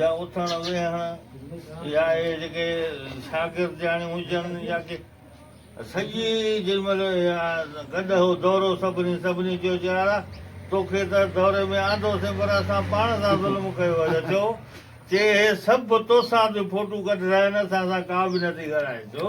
يا اٿڻ ويهڻ يا اهي جيڪي شاگردياڻيون هجن يا ڪي سڄي جنهن مهل اها گڏهه هو دورو سڀني سڀني چيو چيارا توکي ته دوري ۾ آندوسين پر اسان پاڻ سان ظلم ڪيو اچ اچو چي اهي سڀ توسان به فوٽو ڪڍرائن اسان سان ڪا به نه ٿي ڳالهائي ڇو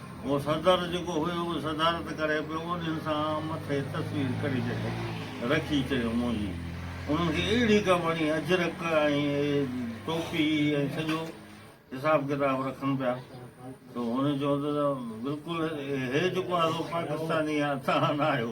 اهو صدر جيڪو هيو اهو صدارت ڪري پيو انهن سان مٿي تصوير ڪڍي ڇڏي رکي چيو منهنجي انهن کي اهڙي ڪا وڻي اجرڪ ۽ ٽوپي ۽ سڄو حساب ڪتاب رکن پيا تو هن چيو ته بلڪل هي جيڪو آهي سو پاڪستاني آهي تهان نه آهيو.